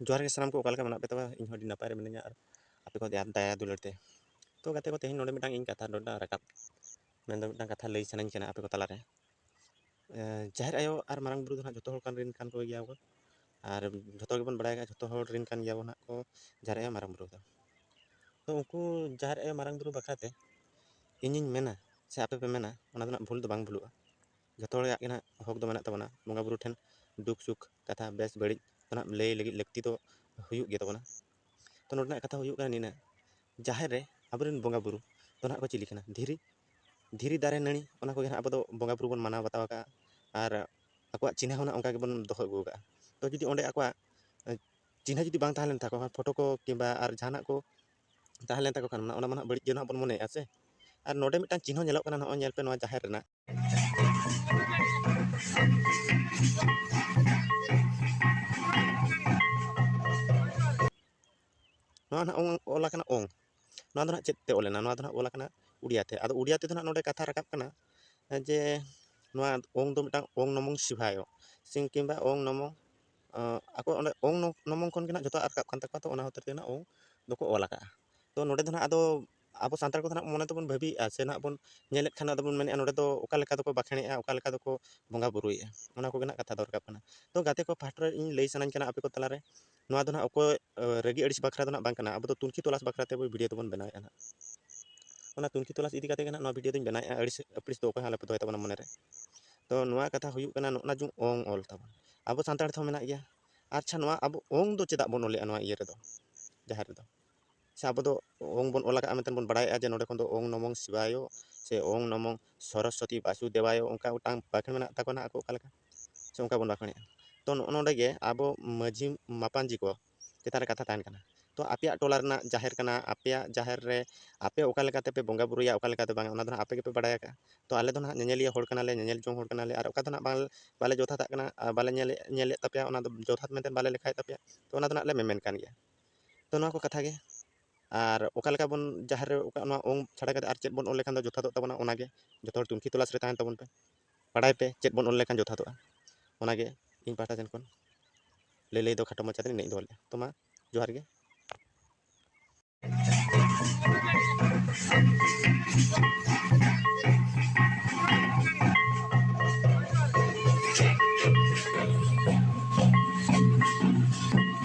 ᱡᱚᱦᱟᱨ ᱜᱮ ᱥᱟᱱᱟᱢ ᱠᱚ ᱚᱠᱟ ᱞᱮᱠᱟ ᱢᱮᱱᱟᱜ ᱯᱮ ᱛᱟᱵᱚᱱᱟ ᱤᱧ ᱦᱚᱸ ᱟᱹᱰᱤ ᱱᱟᱯᱟᱭ ᱨᱮ ᱢᱤᱱᱟᱹᱧᱟ ᱟᱨ ᱟᱯᱮ ᱠᱚ ᱫᱟᱭᱟ ᱫᱩᱞᱟᱹᱲ ᱛᱮ ᱛᱚ ᱜᱟᱛᱮ ᱠᱚ ᱛᱮᱦᱮᱧ ᱱᱚᱰᱮ ᱢᱤᱫᱴᱟᱝ ᱤᱧ ᱠᱟᱛᱷᱟ ᱱᱚᱰᱮ ᱨᱟᱠᱟᱵ ᱢᱮᱱᱫᱚ ᱢᱤᱫᱴᱟᱝ ᱠᱟᱛᱷᱟ ᱞᱟᱹᱭ ᱥᱟᱱᱟᱧ ᱠᱟᱱᱟ ᱟᱯᱮ ᱠᱚ ᱛᱟᱞᱟᱨᱮ ᱡᱟᱦᱮᱨ ᱟᱭᱳ ᱟᱨ ᱢᱟᱨᱟᱝ ᱵᱩᱨᱩ ᱫᱚ ᱦᱟᱸᱜ ᱡᱚᱛᱚ ᱦᱚᱲ ᱠᱟᱱ ᱨᱮᱱ ᱠᱟᱱ ᱠᱚ ᱜᱮᱭᱟ ᱠᱚ ᱟᱨ ᱡᱚᱛᱚ ᱜᱮᱵᱚᱱ ᱵᱟᱲᱟᱭ ᱠᱟᱜᱼᱟ ᱡᱚᱛᱚ ᱦᱚᱲ ᱨᱮᱱ ᱠᱟᱱ ᱜᱮᱭᱟᱵᱚᱱ ᱦᱟᱸᱜ ᱠᱚ ᱡᱟᱦᱮᱨ ᱟᱭᱳ ᱢᱟᱨᱟᱝ ᱵᱩᱨᱩ ᱫᱚ ᱛᱚ ᱩᱱᱠᱩ ᱡᱟᱦᱮᱨ ᱟᱭᱳ ᱢᱟᱨᱟᱝ ᱵᱩᱨᱩ ᱵᱟᱠᱷᱨᱟᱛᱮ ᱤᱧᱤᱧ ᱢᱮᱱᱟ ᱥᱮ ᱟᱯᱮ ᱯᱮ ᱢᱮᱱᱟ ᱚᱱᱟ ᱫᱚ ᱦᱟᱸᱜ ᱵᱷᱩᱞ ᱫᱚ ᱵᱟᱝ ᱵᱷᱩᱞᱩᱜᱼᱟ ᱡᱚᱛᱚ ᱦᱚᱲ ᱟᱜ ᱜᱮ ᱱᱟᱦᱟᱜ ᱦᱚᱠ ᱫᱚ ᱢᱮᱱᱟᱜ ᱛᱟᱵᱚᱱᱟ ᱵᱚᱸᱜᱟ ᱵᱳᱨᱳ ᱴᱷᱮᱱ ᱫᱩᱠ ᱥᱩᱠ ᱠᱟᱛᱷᱟ ᱵᱮᱥ ᱵᱟᱹᱲᱤᱡ ᱫᱚ ᱱᱟᱦᱟᱜ ᱞᱟᱹᱭ ᱞᱟᱹᱜᱤᱫ ᱞᱟᱹᱠᱛᱤ ᱫᱚ ᱦᱩᱭᱩᱜ ᱜᱮ ᱛᱟᱵᱚᱱᱟ ᱛᱚ ᱱᱚᱰᱮᱱᱟᱜ ᱠᱟᱛᱷᱟ ᱦᱩᱭᱩᱜ ᱠᱟᱱᱟ ᱱᱤᱱᱟᱹᱜ ᱡᱟᱦᱮᱨ ᱨᱮ ᱟᱵᱚ ᱨᱮᱱ ᱵᱚᱸᱜᱟ ᱵᱳᱨᱳ ᱫᱚ ᱱᱟᱦᱟᱜ ᱠᱚ ᱪᱤᱞᱤ ᱠᱟᱱᱟ ᱫᱷᱤᱨᱤ ᱫᱷᱤᱨᱤ ᱫᱟᱨᱮ ᱱᱟᱹᱲᱤ ᱚᱱᱟ ᱠᱚᱜᱮ ᱱᱟᱦᱟᱜ ᱟᱵᱚ ᱫᱚ ᱵᱚᱸᱜᱟ ᱵᱳᱨᱳ ᱵᱚᱱ ᱢᱟᱱᱟᱣ ᱵᱟᱛᱟᱣ ᱠᱟᱜᱼᱟ ᱟᱨ ᱟᱠᱚᱣᱟᱜ ᱪᱤᱱᱦᱟᱹ ᱦᱚᱸ ᱱᱟᱦᱟᱜ ᱚᱱᱠᱟ ᱜᱮᱵᱚᱱ ᱫᱚᱦᱚ ᱟᱹᱜᱩ ᱠᱟᱜᱼᱟ ᱛᱚ ᱡᱩᱫᱤ ᱚᱸᱰᱮ ᱟᱠᱚᱣᱟᱜ ᱪᱤᱱᱦᱟᱹ ᱡᱩᱫᱤ ᱵᱟᱝ ᱛᱟᱦᱮᱸ ᱞᱮᱱ ᱛᱟᱠᱚ ᱠᱷᱟᱱ ᱯᱷᱳᱴᱳ ᱠᱚ ᱠᱤᱢᱵᱟ ᱟᱨ ᱡᱟᱦᱟᱱᱟᱜ ᱠᱚ ᱛᱟᱦᱮᱸ ᱞᱮᱱ ᱛᱟᱠᱚ ᱠᱷᱟᱱ ᱚᱱᱟ ᱢᱟ ᱱᱟᱦᱟᱜ ᱵᱟᱹᱲᱤᱡ ᱜᱮ ᱱᱟᱦᱟᱜ ᱵᱚᱱ ᱢᱚᱱᱮᱭᱮᱜᱼᱟ ᱥᱮ ᱟᱨ ᱱᱚᱰᱮ ᱢᱤᱫᱴᱟᱝ ᱪᱤᱱᱦᱟᱹ ᱧᱮᱞᱚᱜ ᱠᱟᱱᱟ ᱱᱚᱜᱼᱚᱭ ᱧᱮᱞ ᱯᱮ ᱱᱚᱣᱟ ᱡᱟᱦᱮᱨ ᱨᱮᱱᱟᱜ ᱱᱚᱣᱟ ᱱᱟᱜ ᱚᱝ ᱚᱞ ᱟᱠᱟᱱᱟ ᱚᱝ ᱱᱚᱣᱟ ᱫᱚ ᱱᱟᱜ ᱪᱮᱫ ᱛᱮ ᱚᱞ ᱞᱮᱱᱟ ᱱᱚᱣᱟ ᱫᱚ ᱱᱟᱜ ᱚᱞ ᱟᱠᱟᱱᱟ ᱩᱲᱤᱭᱟ ᱛᱮ ᱟᱫᱚ ᱩᱲᱤᱭᱟ ᱛᱮᱫᱚ ᱱᱟᱜ ᱱᱚᱰᱮ ᱠᱟᱛᱷᱟ ᱨᱟᱠᱟᱵ ᱠᱟᱱᱟ ᱡᱮ ᱱᱚᱣᱟ ᱚᱝ ᱫᱚ ᱢᱤᱫᱴᱟᱝ ᱚᱝ ᱱᱚᱢᱚᱝ ᱥᱤᱵᱷᱟᱭᱚ ᱥᱤᱝ ᱠᱤᱝᱵᱟ ᱚᱝ ᱱᱚᱢᱚᱝ ᱟᱠᱚ ᱚᱸᱰᱮ ᱚᱝ ᱱᱚᱢᱚᱝ ᱠᱷᱚᱱ ᱜᱮ ᱱᱟᱜ ᱡᱚᱛᱚ ᱨᱟᱠᱟᱵ ᱠᱟᱱ ᱛᱟᱠᱚᱣᱟ ᱛᱚ ᱚᱱᱟ ᱦᱚᱛᱮᱡ ᱛᱮ ᱱᱟᱜ ᱚᱝ ᱫᱚᱠᱚ ᱚᱞ ᱟᱠᱟᱜᱼᱟ ᱛᱚ ᱱᱚᱰᱮ ᱫᱚ ᱱᱟᱜ ᱟᱫᱚ ᱟᱵᱚ ᱥᱟᱱᱛᱟᱲ ᱠᱚᱫᱚ ᱱᱟᱜ ᱢᱚᱱᱮ ᱛᱮᱵᱚᱱ ᱵᱷᱟᱹᱵᱤᱭᱮᱜᱼᱟ ᱥᱮ ᱱᱟᱜ ᱵᱚᱱ ᱧᱮᱞᱮᱫ ᱠᱷᱟᱱ ᱟᱫᱚ ᱵᱚᱱ ᱢᱮᱱᱮᱜᱼᱟ ᱱᱚᱸᱰᱮ ᱫᱚ ᱚᱠᱟ ᱞᱮᱠᱟ ᱫᱚᱠᱚ ᱵᱟᱸᱠᱷᱮᱲᱮᱜᱼᱟ ᱚᱠᱟ ᱞᱮᱠᱟ ᱫᱚᱠᱚ ᱵᱚᱸᱜᱟ ᱵᱳᱨᱳᱭᱮᱜᱼᱟ ᱚᱱᱟ ᱠᱚᱜᱮ ᱱᱟᱜ ᱠᱟᱛᱷᱟ ᱫᱚ ᱨᱟᱠᱟᱵ ᱠᱟᱱᱟ ᱛᱚ ᱜᱟᱛᱮ ᱠᱚ ᱯᱟᱦᱴᱟ ᱨᱮ ᱤᱧ ᱞᱟᱹᱭ ᱥᱟᱱᱟᱧ ᱠᱟᱱᱟ ᱟᱯᱮ ᱠᱚ ᱛᱟᱞᱟᱨᱮ ᱱᱚᱣᱟ ᱫᱚ ᱱᱟᱜ ᱚᱠᱚᱭ ᱨᱟᱹᱜᱤ ᱟᱹᱲᱤᱥ ᱵᱟᱠᱷᱨᱟ ᱫᱚ ᱱᱟᱜ ᱵᱟᱝ ᱠᱟᱱᱟ ᱟᱵᱚ ᱫᱚ ᱛᱩᱱᱠᱷᱤ ᱛᱚᱞᱟᱥ ᱵᱟᱠᱷᱨᱟ ᱛᱮ ᱵᱷᱤᱰᱤᱭᱳ ᱫᱚᱵᱚᱱ ᱵᱮᱱᱟᱣᱮᱜᱼᱟ ᱱᱟᱜ ᱚᱱᱟ ᱛᱩᱱᱠᱷᱤ ᱛᱚᱞᱟᱥ ᱤᱫᱤ ᱠᱟᱛᱮ ᱜᱮ ᱱᱟᱜ ᱱᱚᱣᱟ ᱵᱷᱤᱰᱤᱭᱳ ᱫᱚᱧ ᱵᱮᱱᱟᱣᱮᱜᱼᱟ ᱟᱹᱲᱤᱥ ᱟᱹᱯᱲᱤᱥ ᱫᱚ ᱚᱠᱚᱭ ᱦᱚᱸ ᱟᱞᱚᱯᱮ ᱫᱚᱦᱚᱭ ᱛᱟᱵᱚᱱᱟ ᱢᱚᱱᱮ ᱨᱮ ᱛᱚ ᱱᱚᱣᱟ ᱠᱟᱛᱷᱟ ᱦᱩᱭᱩᱜ ᱠᱟᱱᱟ ᱱᱚᱜᱼᱱᱟ ᱡᱮ ᱚᱝ ᱚᱞ ᱛᱟᱵᱚᱱ ᱟᱵᱚ ᱥᱟᱱᱛᱟᱲ ᱛᱮᱦᱚᱸ ᱢᱮᱱᱟᱜ ᱜᱮᱭᱟ ᱟᱪᱪᱷᱟ ᱱᱚᱣᱟ ᱟᱵᱚ ᱚᱝ ᱫᱚ ᱪᱮᱫᱟᱜ ᱵᱚᱱ ᱚᱞᱮᱜᱼᱟ ᱱᱚᱣᱟ ᱤᱭᱟᱹ ᱨᱮᱫᱚ ᱡᱟᱦᱮᱨ ᱨᱮᱫᱚ ᱥᱮ ᱟᱵᱚ ᱫᱚ ᱳᱢ ᱵᱚᱱ ᱚᱞ ᱟᱠᱟᱫᱼᱟ ᱢᱮᱱᱛᱮ ᱵᱚᱱ ᱵᱟᱲᱟᱭᱮᱫᱼᱟ ᱡᱮ ᱱᱚᱸᱰᱮ ᱠᱷᱚᱱ ᱫᱚ ᱳᱢ ᱱᱚᱢᱚ ᱥᱤᱵᱟᱭᱚ ᱥᱮ ᱳᱢ ᱱᱚᱢᱚ ᱥᱚᱨᱚᱥᱚᱛᱤ ᱵᱟᱥᱩᱫᱮᱵᱟᱭᱚ ᱚᱱᱠᱟ ᱢᱤᱫᱴᱟᱝ ᱵᱟᱠᱷᱮᱬ ᱢᱮᱱᱟᱜ ᱛᱟᱠᱚᱣᱟ ᱱᱟᱜ ᱟᱠᱚ ᱚᱠᱟ ᱞᱮᱠᱟ ᱥᱮ ᱚᱱᱠᱟ ᱵᱚᱱ ᱵᱟᱠᱷᱮᱬᱮᱜᱼᱟ ᱛᱚ ᱱᱚᱜᱼᱚ ᱱᱚᱸᱰᱮ ᱜᱮ ᱟᱵᱚ ᱢᱟᱺᱡᱷᱤ ᱢᱟᱯᱟᱡᱤ ᱠᱚ ᱪᱮᱛᱟᱱ ᱨᱮ ᱠᱟᱛᱷᱟ ᱛᱟᱦᱮᱱ ᱠᱟᱱᱟ ᱛᱚ ᱟᱯᱮᱭᱟᱜ ᱴᱚᱞᱟ ᱨᱮᱱᱟᱜ ᱡᱟᱦᱮᱨ ᱠᱟᱱᱟ ᱟᱯᱮᱭᱟᱜ ᱡᱟᱦᱮᱨ ᱨᱮ ᱟᱯᱮ ᱚᱠᱟ ᱞᱮᱠᱟ ᱛᱮᱯᱮ ᱵᱚᱸᱜᱟ ᱵᱩᱨᱩᱭᱟ ᱚᱠᱟ ᱞᱮᱠᱟ ᱛᱮ ᱵᱟᱝ ᱚᱱᱟ ᱫᱚ ᱱᱟᱜ ᱟᱯᱮ ᱜᱮᱯᱮ ᱵᱟᱲᱟᱭ ᱟᱠᱟᱫᱼᱟ ᱛᱚ ᱟᱞᱮ ᱫᱚ ᱱᱟᱜ ᱧᱮᱧᱮᱞᱤᱭᱟᱹ ᱦᱚᱲ ᱠᱟᱱᱟᱞᱮ ᱧᱮᱧᱮᱞ ᱡᱚᱝ ᱦᱚᱲ ᱠᱟᱱᱟᱞᱮ ᱟᱨ ᱚᱠᱟ ᱫᱚ ᱱᱟᱜ ᱵᱟᱞᱮ ᱡᱚᱛᱷᱟᱛᱟᱜ ᱠᱟᱱᱟ ᱟᱨ ᱵᱟᱞᱮ ᱧᱮᱞᱮᱫ ᱛᱟᱯᱮᱭᱟ ᱚᱱᱟ ᱫᱚ ᱡᱚᱛᱷᱟᱛ ᱢᱮᱱᱛᱮ ᱵᱟᱞᱮ ᱞᱮᱠᱷᱟᱭᱮᱫ ᱛᱟᱯᱮᱭᱟ ᱛᱚ ᱚᱱᱟ ᱫᱚ ᱱᱟᱜ ᱞᱮ ᱢᱮᱢᱮᱱ ᱠᱟᱱ ᱜᱮᱭᱟ ᱛᱚ ᱱᱚᱣᱟ ᱠᱚ ᱠᱟᱛᱷᱟ ᱜᱮ ᱟᱨ ᱚᱠᱟ ᱞᱮᱠᱟ ᱵᱚᱱ ᱡᱟᱦᱮᱨ ᱨᱮ ᱚᱠᱟ ᱱᱚᱣᱟ ᱳᱢ ᱪᱷᱟᱰᱟ ᱠᱟᱛᱮ ᱟᱨ ᱪᱮᱫ ᱵᱚᱱ ᱚᱞ ᱞᱮᱠᱷᱟᱱ ᱫᱚ ᱡᱚᱛᱷᱟᱛᱚᱜ ᱛᱟᱵᱚᱱᱟ ᱚᱱᱟ ᱜᱮ ᱡᱚᱛᱚ ᱦᱚᱲ ᱛᱩᱱᱠᱷᱤ ᱛᱚᱞᱟᱥ ᱨᱮ ᱛᱟᱦᱮᱱ ᱛᱟᱵᱚᱱ ᱯᱮ ᱵᱟᱲᱟᱭ ᱯᱮ ᱪᱮᱫ ᱵᱚᱱ ᱚᱞ ᱞᱮᱠᱷᱟᱱ ᱡᱚᱛᱷᱟᱛᱚᱜᱼᱟ ᱚᱱᱟ ᱜᱮ ᱤᱧ ᱯᱟᱦᱴᱟ ᱥᱮᱱ ᱠᱷᱚᱱ ᱞᱟᱹᱭ ᱞᱟᱹᱭ ᱫᱚ ᱠᱷᱟᱴᱚ ᱢᱟᱪᱷᱟ ᱛᱮ ᱱᱤᱱᱟᱹᱜ ᱤᱧ ᱫᱚᱦᱚ ᱞᱮᱫᱼᱟ ᱛᱚ ᱢᱟ ᱡᱚᱦᱟᱨ ᱜᱮ